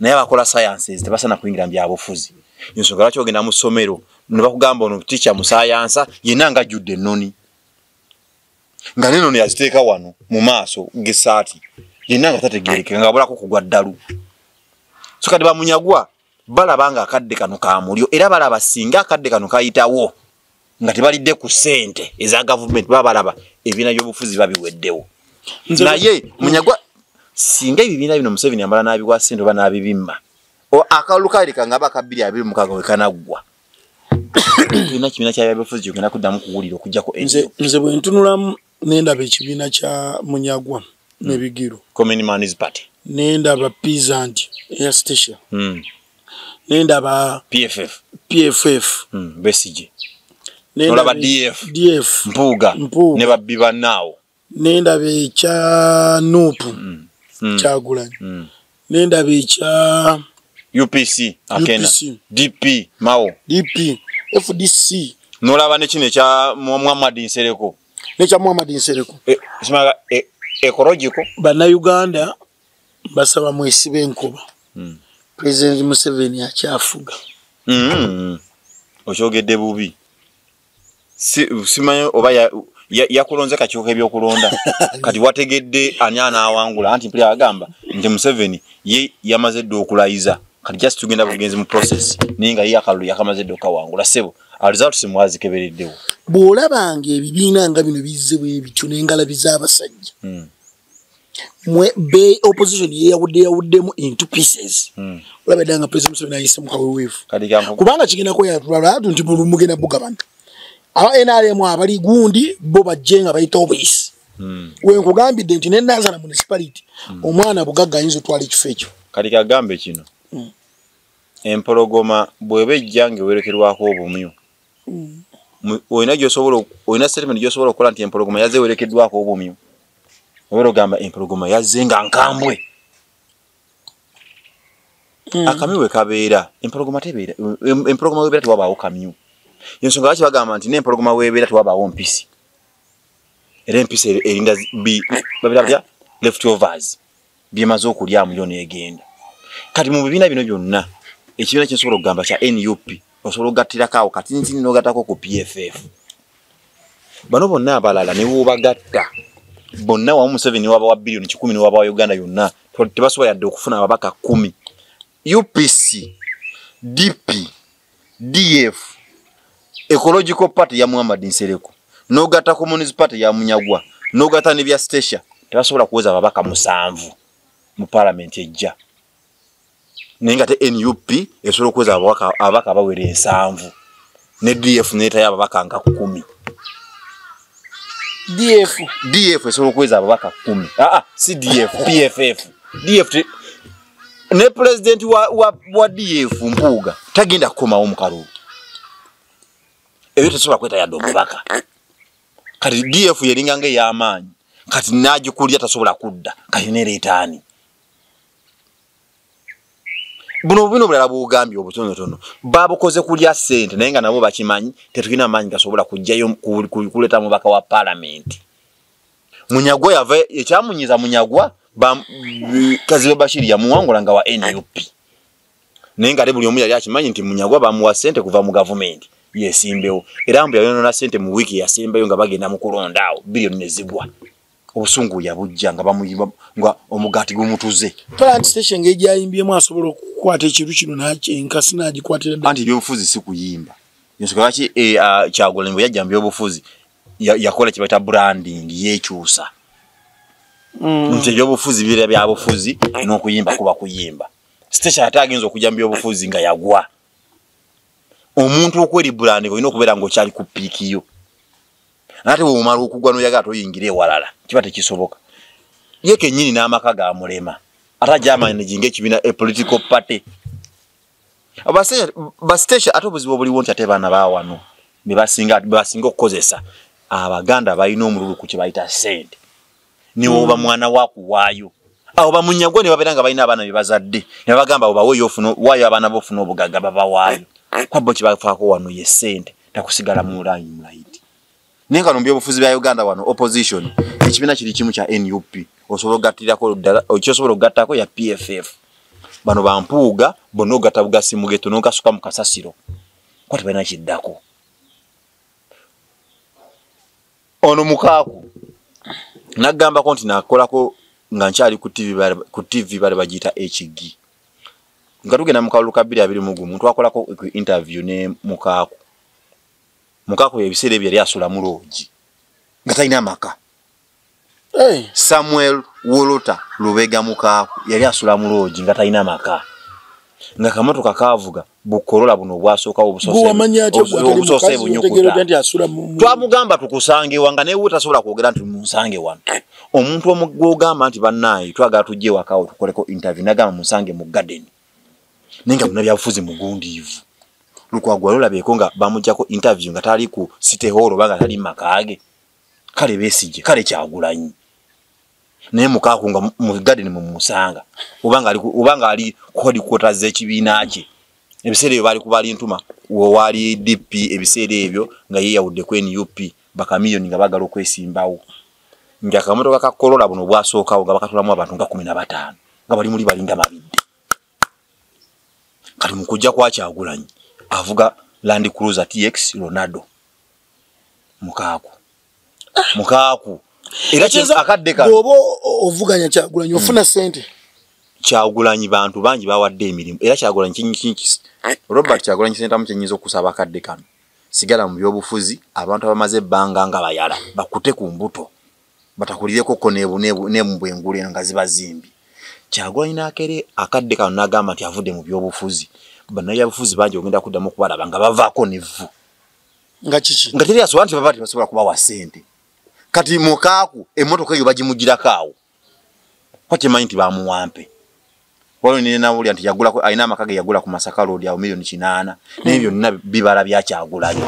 naye abakola sciences tebasaana kuyingira mu byabufuzi ensonga lwaki ogenda mu ssomero ne bakugamba ono ticha musaayansa yenna ngajjudde ennoni nga neno ne yaziteeka wano mu maaso gesaati yenna nga tategerekeka nga abulako kugwa ddalu so kati bamunyagwa balaba nga akadde kano kamulyo era balaba singa akadde kano kayitawo nga tebalidde ku sente eza gavumenti baba balaba ebibiina byobufuzi babiweddewo naye munyagwa singa ebibiina bino museveni amala n'abiwa sente oba n'abibimma akalulu kaleka nga aba kabbiri abiri mukaaga wekanaggwa tulina kibiina kya byabufuzi kyogenda kuddamu kuwulira okujjako nze bwe ntunulamu nendaba ekibiina kya munyagwa hmm. nebigiro nendaba pisant eya statia hmm. nendaba pff pff hmm, besige nolaba df df mpuuga ne babbi bannaawo nendaba ekya nupu mm. mm. kyagulanyi mm. nendaba ekya upc akena dp mao dp fdc nolaba nekino ekya muhammad nsereko nekya muhammad nsereko e, e, ekologiko banauganda basaba mwesiba enkuba mm. president museveni akyafuga mm. okyogedde bubi simanyi oba yakulonze kakyuka ebyokulonda kati wategedde ani anaawangula anti mpulira agamba nti museveni ye yamaze dde okulayiza kati just tugenda bugenzi mu process naye nga ye akalulu yakamaze dde okukawangula sebo results mwazikebereddewo bw'olabanga ebibiina nga bino bizze bwe bityo n'engalabi z'abasajja hmm. mwe be opposition ye yawudde yawuddemu into pieces hmm. olaba danga president museveni ayise mu kaweweevu kubanga kigenda kweyatulala atu nti buli mugenda bugabana aba nrm abali gundi bo bajje nga bayita obuyisi hmm. we nkugambidde nti ne nazala municipality hmm. omwana bugagga ayinza otwala ekifo ekyo kati kagambe kino empologoma bweba ejja nga ewerekerwako obumyu olina gyosobola olina statement gyosobola okukola nti empologoma yazze ewerekeddwako obumyu obeera ogamba empologoma yazze nga nkambwe hmm. akamyu we kabeera empologoma tebeera empologoma webeera tewabaawo kamyu ensonga lwaki bagamba nti n'empologoma webeera tewabaawo mpisi era empisi erinda babeera bya left overs byemaze okulyamu yo negenda kati mu bibiina bino byonna ekibiina kyensobola okugamba kya nup osobola okugattirako awo katintini nogatako ku pff bano bonna abalala newobagatta bonna wamu museveni waba wa biliyoni kikumi newaba wa uganda yonna tebasobola yadde okufuna ababaka kumi upc dp df ecological party ya muhammad nsereko nogata communis party ya munyagwa nogata ne bya stacia tebasobola kuweza babaka musanvu mu parliament ejja naye nga te nup esobola okuweza ababaka abawera ensanvu ne df netayo ababaka nga kumi df df esobola okuweza ababaka kumi aa ah, ah, si df pff df ne pulezidenti wa, wa, wa df mpuuga tagenda kukomawo mukalulu ebyo tesobola kweta yadde omubaka kati df yeringa nga eyamaanyi kati nagikulya tasobola kudda kati nereetaani buno bino bulala bwogambye obutonotono babukoze kulya sente naye nga nabo bakimanyi tetulina maanyi gasobola kujjayo kuleta mubaka wa palamenti munyagwa yava ekyamunyiza munyagwa kazibe bashiri yamuwangula nga wa nup naye nga ate buli omu yali akimanyi nti munyagwa bamuwa sente kuva mu gavumenti yesimbewo era mbu yayonona sente mu wiiki yasembayo nga bagenda mu kulonda awo biliyoni nezigwa obusungu yabujja nga bamuyimba nga omugaati gumutuze plant station nga egyayimbyemu asobola okukwata ekintu kino enkasi nagikwatira anti ebyobufuzi si kuyimba ensonga lwaki eh, ah, kyagulanyi bwe yajja mu byobufuzi yakola kibata branding yekyusa mm. nti ebyobufuzi bira byabufuzi n'okuyimba kuba kuyimba siteshi ate agenza okujja mu byobufuzi nga yagwa omuntu okweri branding olina okubeera ngaokyali ku piiki yo nate weomala okugwa noyaga ate oyingira ewalala kiba tekisoboka ye kenyini n'amaka ga mulema ate ajamanijinga ekibiina a political party basiteesha ate obuzibu obuliwo nti ate baana bawano bebasinga bebasinga okukozesa abaganda balina omululu ku kyebayita sente niwoba mm. mwana wakuwaayo awo bamunyagwe ne babeera nga balina abaana bebazadde ne bagamba obaweyo ofuna waayo abaana bo ofuna obugagga babawaayo kwabbo kyebafaako wano ye sente takusigala mu layini mulayiti naye nga nomubyobufuzi bya uganda wano opposition ekibiina kiri kimu kya nup osobola okugattirako ddala kyosobola okugattako ya pff bano bampuuga bonna ogatta bugasi mugeto nogasuka mu kasasiro kuba tebalina kiddako ono mukaaku nagambako nti nakolako nga nkyali ku tv bali bagiyita ekigi nga tugenda mu kalulu ka bbiri abiri mu gumu twakolako interview ne mukaaku mukako ebiseera ebyo yali asula mu loogi nga talina amaka samuel wolota lubega mukaaku yali asula mu loogi nga talina maka nga kamotoka kaavuga bukolola buno obwasookawo obusoose bunyukutwamugamba tukusangewa nga naye tasobola kwogera nti munsange wano omuntu omugwogamba nti bannaayi twagala tujja ewakawo tukoleko intervie nagamba munsange mu gadeni naye nga munabyabufuzi mugundiivu lukwago wali olabeeko nga bamujjako interview nga tali ku city hall oba nga tali makaage kale besigye kale kyagulanyi naye mukaaku nga mu garden mumusanga obanga ali kuhodikwota z'ekibiina kye ebiseera ebyo baali kubalintuma wewali dp ebiseera ebyo nga yeyawudde ku nup bakamiyoni nga bagala okwesimbawo nga kamotoka ka kolola buno bwasookawo nga bakatulamu abantu nga kumi na bataano nga bali muli balinda mabidde kati mukujja kwakyagulanyi avuga land cruiser tx ronaldo mukaaku ah. mukaaku era akadde kaoba ovuganya kyagulanyi hmm. ofuna sente kyagulanyi bantu bangi bawadde emirimu era kyagulanyi kinyikikisi robert kyagulanyi sentamu kyenyinza okusaba akadde kano sigala mu byobufuzi abantu abamaze ebbanga nga bayala bakute ku mbuto batakulireko ko nebwengulu eno nga zibazimbi kyagulanyi nakere akadde kano nagamba nti avudde mu byobufuzi banayabufuzi bangi ogenda kuddamu okubalaba nga bavaako nevvu nga kiki nga teri asobola nti baba tebasobola kubawa sente kati mukaaku emmotoka eyo bagimugirako awo kwa kyemanyi nti bamuwampe waliwo nenawulira nti yagulako alina amaka ge yagula ku masaka road awo milioni kinaana naye byonna bibala byakyagulayo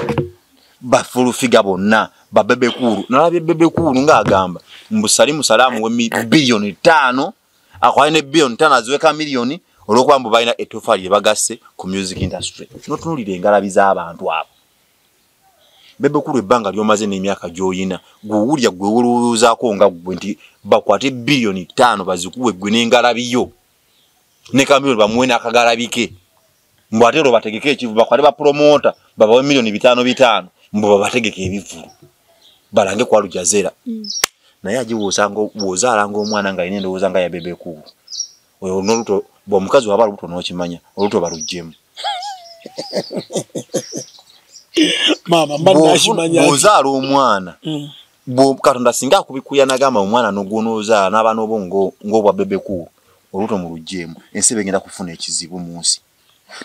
bafulufiga bonna babebekuulu nalabye bebekuulu ngaagamba mbusali musalaamu we biliyoni ttaano akwali ne biliyoni ttaano aziweka miliyoni olwokuba mbu balina etofaali lye bagasse ku music industry notunulira engalabi z'abantu abo bebe kulu ebbanga lyomaze n'emyaka gyoyina gwewulya gwewolowoozaako nga gwe nti bakwate biliyoni ttaano bazikuwe gwe n'engalabiyo ne kamiliyoni bamuwe n'akagalabike mbu ate olwo bategeke ekivu bakwate bapromota babawe miliyoni bitaano bitaano mbu babategeke ebivulu balange kwalujazera mm. naye agiwoozanga woozaalanga omwana nga yina endowooza nga yabebe kulu oyo noluto bwa mukazi waba luto nokimanya oluto balujjemu mama mba nashimanya ozaala omwana mm. bwo katonda singa akubikuya nagamba omwana nogwona ozaala n'abaana obo ng'obwa bebeku oluto mu lujjemu ensi begenda kufuna ekizibu mu nsi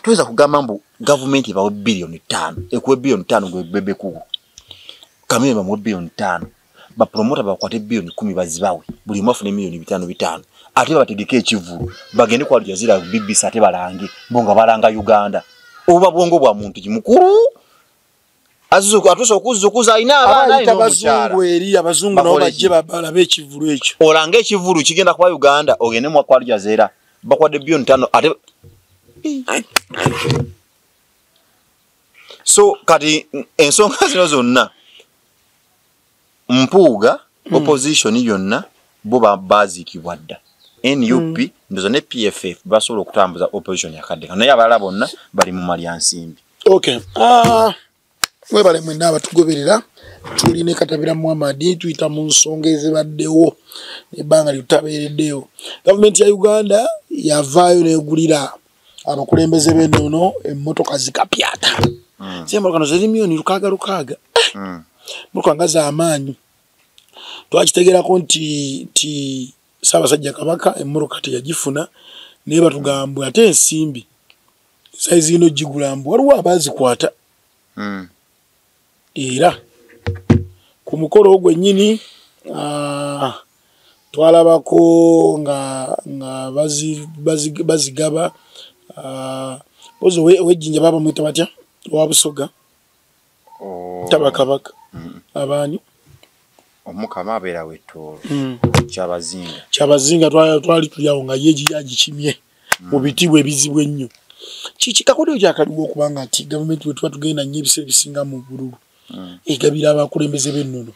toyinza kugamba mbu gavumenti ebawe biliyoni ttaano ekuwe biliyoni ttaano gwe bebeku kamere bamuwe biliyoni ttaano ba promoter bakwate billion 10 bazibawe buli mwafu ne million 5 bitano ate bategeke ekivulu bagende kwa jazira BBC ate balange bonga balanga Uganda oba bwongo bwa muntu kimukuru azu atuso kuzu kuza ina abana ino mchara eri abazungu no baje babala be kivulu ekyo olange kivulu kigenda kwa Uganda ogene mwa kwa jazira bakwade billion 5 ate so kati ensonga zino zonna mpuuga mm. opposition yonna bo baziikibwa dda nup mm. ndoza ne pff basobola okutambuza opposition yakadde kano naye abalala bonna bali mu malya nsimbi okay. uh, mwebale mwena abatugoberera tuli ne katabira muhamadi tuyita mu nsonga ezibaddewo ebbanga lyotutabeereddeyo gavumenti ya uganda yavaayo negulira abakulembeze b'ennono emmotoka zikapyata hmm. zembala kano ziri miyoni lukaaga lukaaga hmm. motoka nga z'amaanyi twakitegerako nti nti ssaabasajja kabaka emmotoka teyagifuna naye batugambwe ate ensimbi sayizi ino gigula mbu waliwo abaazikwata hmm. era ku mukolo gwennyini ah, twalabako nga nga bazigaba ah, ozi owejjinja baba mwita batya owa busoga oh. taba kabaka mm. abaani omukama abeera wettoolo mm. kyabazinga kyabazinga twali tuli awo nga ye agikimye mu bitibwa ebizibu ennyo kiki kakodeo kyakaliwo okuba nga nti gavumenti wetuba tugenda nnyo ebiseera ebisinga mu bululu hmm. egabira abakulembeze b'ennono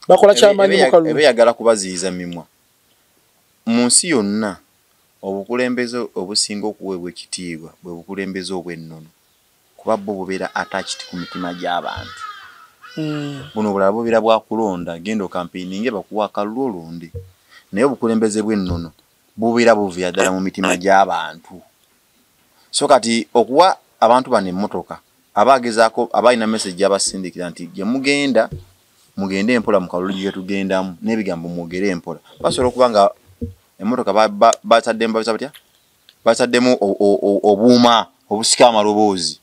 bakola kyamanyi mukalubeyagala kubaziyiza mimwa mu nsi yonna obukulembeze obusinga okuweebwa ekitiibwa bwe bukulembeze obw'ennono kuba bo bubeera atachiti ku mitima gy'abantu hmm. buno obulala bubeera bwakulonda genda okampeininge bakuwa akalulu olonde naye obukulembeze bw'ennono bubeera buviira ddala mu mitima gy'abantu so kati okuwa abantu bano emmotoka aba agezaako aba alina mesagi abasindikira nti gye mugenda mugende empola mu kalulu gye tugendamu n'ebigambo mwogere empola basobola okuba nga emmotoka bataddemu babisa batya bataddemu obuuma obusika amaloboozi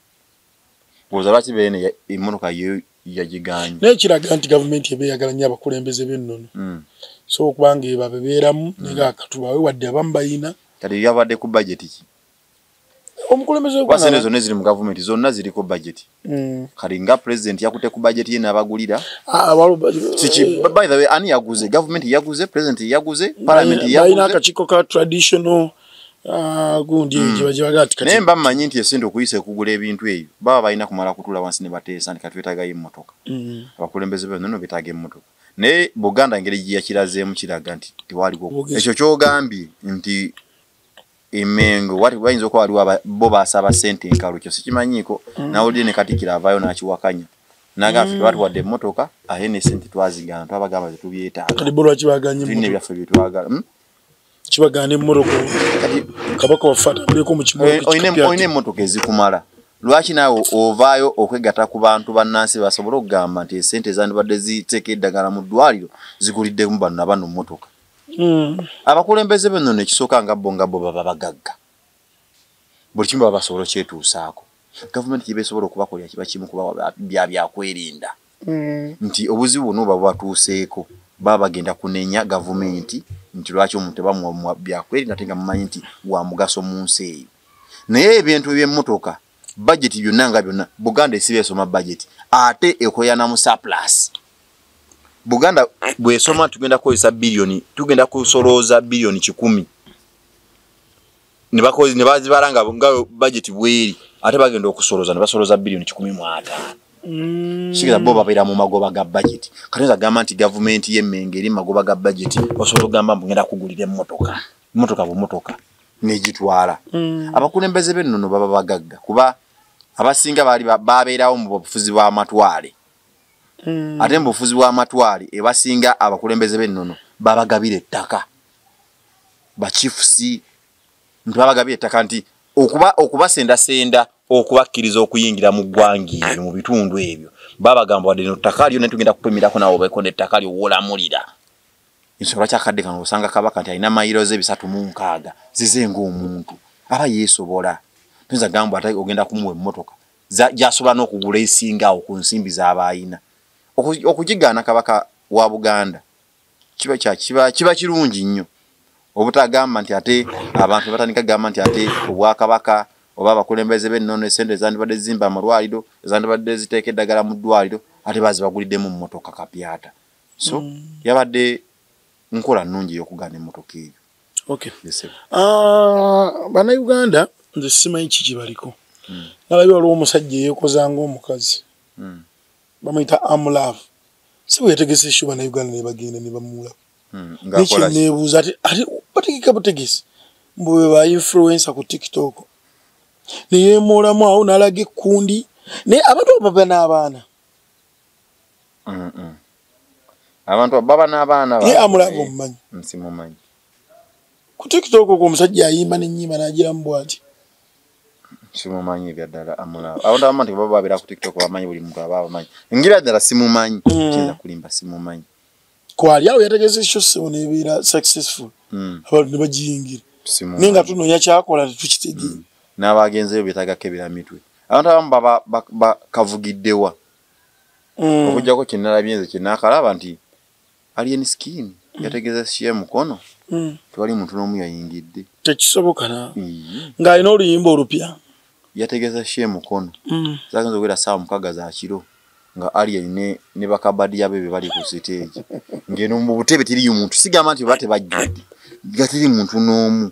oza lwaki beene emotoka ye yagiganye naye kiraga nti gavumenti eba eyagala nnyo abakulembeze b'ennono mm. so okubanga eba bebeeramu mm. naye akatubawe wadde abamu bayina kati yabadde ku bajeti ki omukulembezesente zonna eziri mu gavumenti zonna ziriko bajeti mm. kati nga pulezidenti yakute ku bajeti ye n'abagulira ah, ani yaguze gavumenti yaguze pulezidenti yaguze palamenti yaguze akakiiko ka traditional Ah, gundi mm. ejo bajala ati kati nemba manyi nti esente okuyise kugula ebintu eyo baba balina kumala kutula wansi ne batesa nti katwetaga yi motoka mm. abakulembeze be nono bitage motoka ne buganda ngere giya kiraze mu kiraga nti tiwali go echo kyo gambi nti emengo wati bayinzo kwa aliwa ba, bo basaba sente nkalu kyo sikimanyiko mm. na odi ne kati kira vayo na achiwakanya naga mm. watu wade motoka ahene sente twazi gana twabagamba tubyeta kali bolo achibaganye motoka tine bya febye twaga mm? kibagana emmotoka kabaka waffe atambuleko mu kimolina emmotoka ezikumala lwaki naawe ovaayo okwegata ku bantu bannansi basobole okugamba nti esente ezandibadde ziteeka eddagala mu ddwaliro ziguliddemu banna bano mmotoka hmm. abakulembeze beno nekisooka nga bo nga bo baba bagagga buli kimu baba basobola okyetuusaako gavumenti gyebesobola okubakolera kiba kimu kuba bya byakwerinda mm. nti obuzibu buno oba bwatuuseeko baba bagenda kunenya gavumenti nti lwaki omuntu tebamuwa byakweri nate nga mumanyi nti wa mugaso mu nsi eyo naye ebintu ebyemmotoka bajeti byonna nga byonna buganda esiba esoma bajeti ate ekoyana mu surplus buganda bwesoma tugenda kukozesa biliyoni tugenda kusolooza biliyoni kikumi nebakozi nebazibala nga nga budget bweri ate bagenda okusoloza nebasoloza billion kikumi mu ataano mm. sigeza bo babeera mu magoba ga budget katonza agamba nti gavumenti y'emmenge eri magoba ga budget osobola okugamba mbu ngenda kugulira emmotoka mmotoka bumotoka negitwala mm. abakulembeze b'ennono baba bagagga kuba abasinga baali babeerawo mu bufuzi bw'amatwale mm. ate mu bufuzi bw'amatwale ebasinga abakulembeze b'ennono babagabira ettaka bakifusi nti babagabye ettaka nti okuba okubasendasenda okubakkiriza okuyingira mu ggwanga ebyo mu bitundu ebyo babagamba wadde no ttaka lyo ne tugenda kupimirako nawe obeeko nettaka lyo wolamulira ensonga lwaki akadde kano osanga kabaka nti alina mayiro ze bisatu mu nkaaga zize ngaomuntu aba yeesobola toyinza gamba ate ogenda kumuwa emmotoka gyasobola n'okugula esingawo ku nsimbi z'aba ayina okugigaana kabaka wa buganda kiba kya kiba kiba kirungi nnyo obutagamba nti ate abantu batandika gamba nti ate obwakabaka oba abakulembeze b'ennono esente ezandibadde zimba amalwaliro ezandibadde ziteeka eddagala mu ddwaliro ate bazibaguliddemu mmotoka kapyata so mm. yabadde nkola nnungi ey'okugaana emmotoka eyo okay. yes, uh, banauganda nze simanyi kiki baliko mm. nalabye waliwo omusajja eyekoza ngaomukazi mm. bamuyita amulavu si bwe yategese eshuba na uganda ne bagenda ne bamuula hmm, nekyeneebuuza ati ati bategeka butegesi mbu be ba influensa ku tiktok ne yeemoolamu awo n'alaga ekkundi naye abantu abo baba n'abaana abantu abo baba n'abaana ye amulavu omumanyi nsimumanyi ku tiktok okwo omusajja ayimba n'ennyimba n'agiramu bwati simumanyi ebyaddala amulaba abantu abamu nti baba babeera ku tiktok bamanyi buli muntu aba abamanyi ngira ddala simumanyi mm. kiyinza kulimba simumanyi kwali awo yategeza ekyo sebo nebeera successful mm. abantu ne bagiyingira naye nga tunoonya kyakola tetukitegeera mm. n'abagenzeyo betagako ebira mitwe abantu abamu baba bakavugiddewa okujjako kyenalabye nze kyenakalaba nti Alien Skin mm. yategeeza Shia Mukono mm. tewali muntu n'omu yayingidde. Tekisoboka na mm. ng'alina oluyimba olupya. Yategeeza Shia Mukono mm. zaagenza okubeera ssaawa mukaaga za kiro nga Alien ne, ne bakabadiya be be bali ku siteegi ng'eno mu butebe tiriyo muntu sigamba nti oba tebajjudde nga teri muntu n'omu.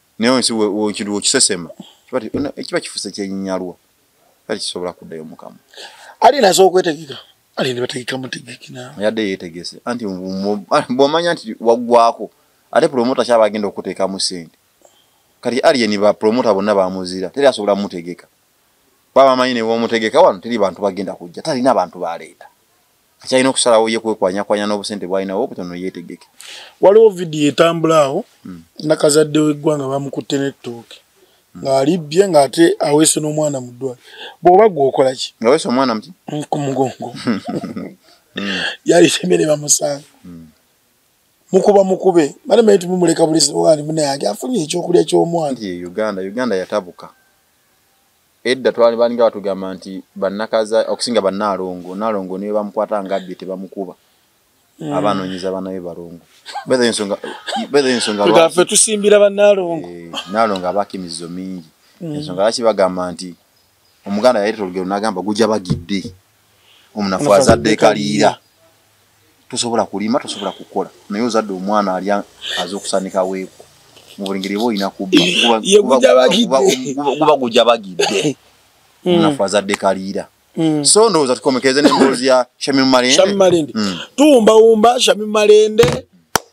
naye nsi wekintu wekisesema kiba kifuse kyenyalwa kati kisobola kuddayo mukama ali nazo okwetegeka ali nebategeka mutegeki nawe yadde yetegese anti bwomanya nti waggwako ate promota kyaba agenda okuteekamu sente kati aliyeni ba promota bonna bamuzira teri asobola mutegeka baba manyi newomutegeka wano teri bantu bagenda kujja talina bantu baleeta akyalina okusalawo ye kwekwanyakwanya n'obusente bwalinawo obutono yeetegeke waliwo vidiyo etambula awo hmm. nakazadde weggwanga bamukutte n'ettooke hmm. ng'alibbye ng'ate aweese n'omwana mu ddwali bw'oba gwe okola ki ngaweese omwana muti hmm, ku mugongo yalise emere bamusanga mukuba mukube mane manye tumumuleka buliziwani munayange afunye ekyokulya ky'omwana uganda uganda yatabuka edda twali balinga batugamba nti bannakaza okusinga bannaalongo naalongo niwe bamukwata nga abbye tebamukuba mm. abanoonyeza banabe balongo ensongaffe tusimbira bannaalongo eh, naalongo abaako emizizo mingi mm. ensonga lwaki bagamba nti omuganda yayita olugero nagamba gujja bagidde omunafu azadde ekaliira tosobola kulima tosobola kukola naye ozadde omwana ali aza okusanika weeku mu buli ngeri eba olina kubbaguba gujja bagidde hmm. omunafu azadde ekaliira hmm. so ndowooza tukomekeze nemboozi ya shamim malende hmm. tuwumbawumba shamim malende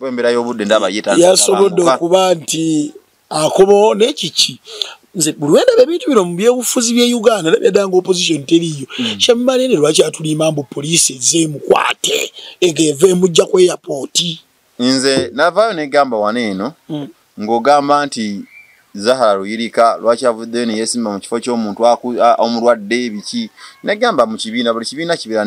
embera yobudde ndaba yeyasobodde okuba nti akobawo naye kiki nze buli wendaba ebintu bino mu byobufuzi bye uganda era byadanga opposition teriiyo mm. kyemmalende lwaki atulimba mbu poliisi ezze emukwate ega eva emujja ku eyapooti nze navaayo negamba wano eno mm. ng'ogamba nti zahara luyirika lwaki avuddeyo neyesimba mu kifo ky'omuntu omulwadde ebiki negamba mu kibiina buli kibiina kibeera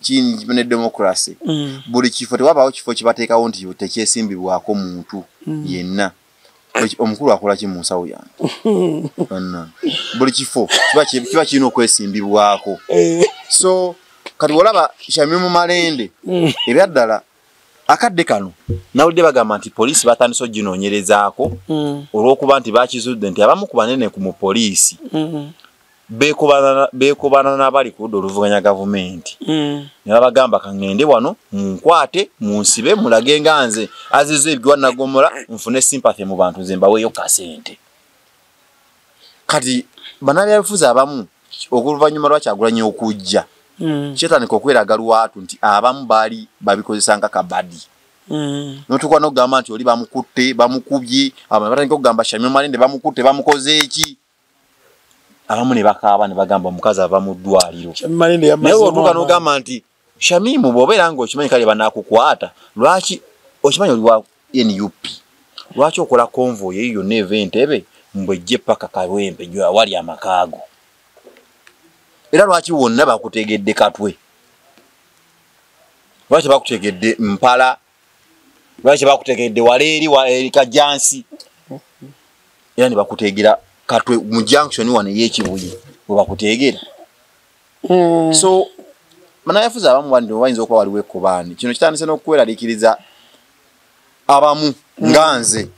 kiyinza ne democracy mm. buli kifo tewabaawo kifo kibateekawo nti tekyesimbibwako muntu mm. yenna omukulu akola ki mu nsawo yange buli kifo kiba kirina okwesimbibwako eh. so kati olaba shami mu malende mm. ebyaddala akadde kano nawulidde bagamba nti poliisi batandise oginoonyerezaako olw'okuba nti bakizudde nti abamu ku banene ku mu poliisi bekobaana nabali ku ludda oluvuganya gavumenti mm. nebabagamba kaŋende wano munkwate munsibe mulage nga nze aziza ebigiwa nagomola nfune sympathy mu bantu nze mbaweeyo kasente kati banabyabifuzi abamu oluvanyuma lwakyagulanya okujja mm. kyetandika okweraga lwatu nti abamu baali babikozesa nga kabadi Mm. notukuba nokugamba nti oli bamukutte bamukubye abatandika okugamba shamyomalende bamukutte bamukoze eki abamu ne bakaaba ne bagamba omukazi ava mu ddwaliro naye otuuka n'ogamba nti shamimu bw'obeera nga okimanyi kale banakukwata lwaki okimanyi oli wa nup lwaki okola konvoy eyo yonna eva entebe mbwe ejje paka kalwempe jo awali amakaago era lwaki wonna bakutegedde katwe lwaki bakutegedde mpala lwaki bakutegekedde wala eri eri kajjansi era ne bakuteegera katwe mu junction wano ey'ekibuye we bakuteegera hmm. so banayafuzi abamu bandi bayinza okuba waliwo ekkobaani kino kitandise n'okukweraliikiriza abamu hmm. nga nze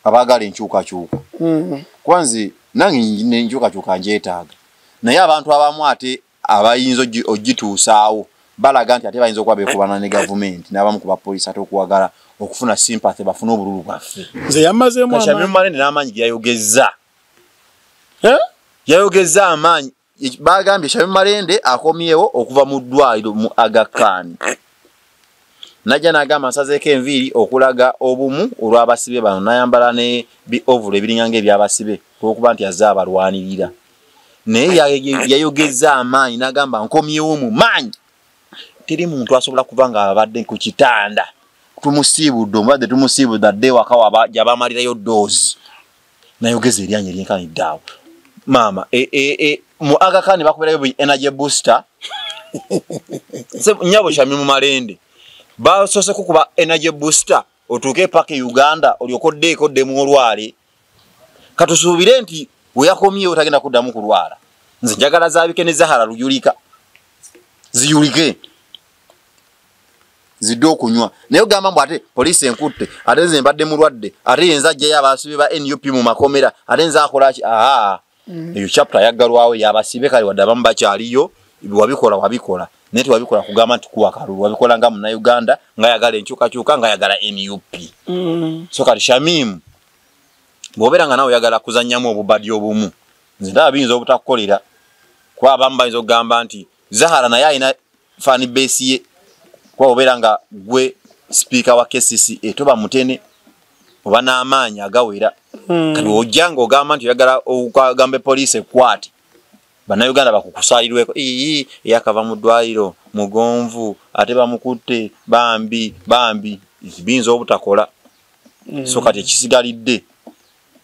abaagala enkyukakyuka hmm. kuba nze nange enkyukakyuka njeetaaga naye abantu abamu ate abayinza ogituusaawo balaga nti ate bayinza okuba bekubana ne gavumenti n'abamu ku bapoliisi ate okuwagala okufuna sympathy bafune obululu bwaffe nze yamazeemu amaanyi n'amaanyi ge yayogezza eh? yayogezza amaanyi bagambye shabe malende akomyewo okuva mu ddwaliro mu agakaani najja n'agamba nsazeeko enviiri okulaga obumu olw'abasibe bano nayambala ne biovulo ebiringanga eby'abasibe olwokuba nti azze abalwanirira naye yayogezza amaanyi nagamba nkomyewo mu maanyi teri muntu asobola kuba nga abadde ku kitanda tumusiibudde omubadde tumusiibudde adde wakawa gyabamalirayo doozi nayogeza eryanyi eryenkanidde awo maama e, e, e, mu agakani bakuberayo bu energy booster nyabo kyami mu malende basoose kukuba energy booster otuuke epaka e uganda olyoka oddeeko ddemu olwale katusuubire nti weyakomyewo tagenda kuddamu kulwala nze njagala zabike ne zahara luyulika ziyulike zidde okunywa naye ogamba mbu ate poliisi enkutte ate nze mbadde mulwadde ate yenza ajjayo abaasibe ba nup mu makomera ate nze akolaki aa mm. eyo chapter yaggalwawo yabasibe kale wadde abamu bakyaliyo wabikola wabikola naye tewabikola kugamba nti kuwa kalulu wabikola nga munauganda nga yagala enkyukakyuka nga yagala nup mm. so kati shamimu bwobeera nga nawe oyagala kuzannyamu obubadi obumu nze ndaba biyinza obutakukolera kuba abamu bayinza okugamba nti zahara naye alina fani base ye kuba obeera nga gwe sipiika wa kcc etoba mutene oba n'amaanyi agawera hmm. kati ojja nga ogamba nti oyagala ogambe poliisi ekwate bannayuganda bakukusaalirweko ii eyakava mu ddwaliro mugonvu ate bamukutte bambi bambi biyinza obutakola hmm. so kati ekisigalidde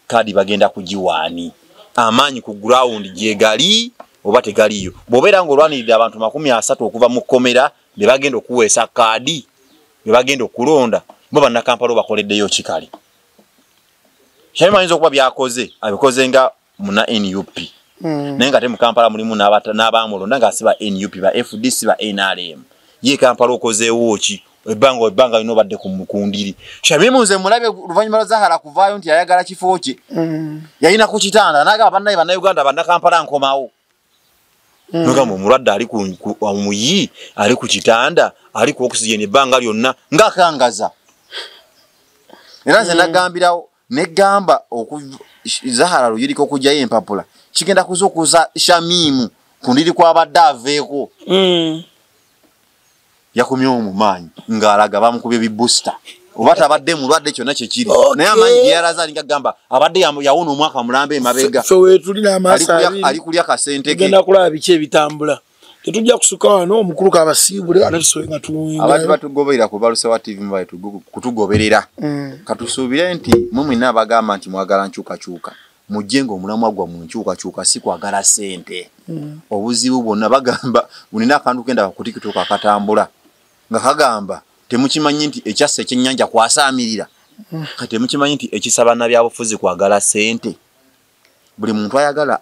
kadi bagenda kugiwaani amaanyi ku gurawundi gyegali oba tegaliyo bwobeera nga olwaniridde abantu makumi asatu okuva mu kkomera be bagenda okuweesa kaadi be bagenda okulonda bo bannakampala obakoleddeyo kikale shamim ayinza okuba byakoze abikoze nga muna nup hmm. naye nga te mukampala mulimu n'abamulonda nga si ba nup ba fdc ba nrm ye kampala okozeewo ki ebbanga ebbanga lino obadde kundiri shamimu nze mulabye oluvannyuma lwa zahara kuvaayo nti yayagala kifo kye mm. yalina ku kitanda nagamba bannaye bannauganda bannakampala nkomawo mm. nogamba omulwadde ali omuyi ali ku kitanda ali ku oxygen ebbanga lyonna ngaakangaza era nze mm. nagambirawo ne gamba oku zahara luyiriko kujja yempapula kigenda kuzukuza shamimu kundiri kwa badaveko mm. yakumye omumanyi ngalaga bamukubye bi booster oba tabadde mulwadde kyonna kyekiri okay. naye amanyi geyalaza alinga gamba abadde yawona omwaka mulambe emabega so, so wetuli namaso ali kulya kasente ke genda kulaba biki ebitambula tetujja kusuka wano omukulu kabasiibule ate tusobe nga tuwinga abantu batugoberera ku balusewa tv mubale kutugoberera mm. katusuubire nti mwe mwina abagamba nti mwagala nkyukakyuka mujje nga omulamwa gwa mu nkyukakyuka si kwagala sente mm. obuzibu bwonna bagamba bulina akantu kenda kakutikituka akatambula nga kagamba temukimanyi nti ekyassa ekyennyanja kwasaamirira mm. kati temukimanyi nti ekisaba nabyabufuzi kwagala sente buli muntu ayagala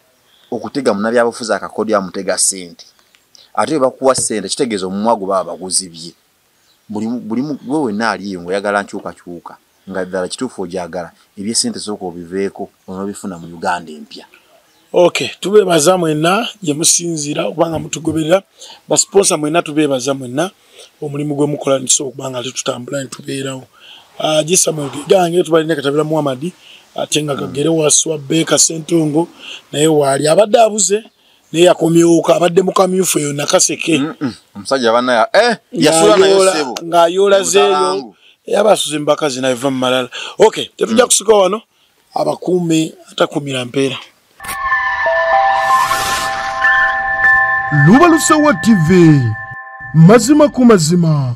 okutega munabyabufuzi akakodyo amutega sente ate webakuwa sente kitegeeza omumwa gwe baba baguzibye buli gwe wenna aliyo ngaoyagala nkyukakyuka nga ddala kituufu ogyagala ebyesente sooka obiveeko onobifuna mu uganda empya ok tubeebaza mwenna gyemusinziira okubanga mutugoberera basiponsa mwenna tubeebaza mwenna omulimu gwe mukola nti so kubanga ali tutambula ntubeerawo ajisa ah, mugege gange tubali ne katabira Muhammad atenga kagere wa swabbe ka sentungo naye wali abadde abuze naye yakomyoka abadde mukamyufu eyo nakaseke omusajja mm -mm. bana eh yasula nayo sebo ngayola zeyo yabasuze mbakazi na eva malala okay tetujja mm. kusika wano abakuume atakumira mpeera lubalusewa tv mazima ku mazima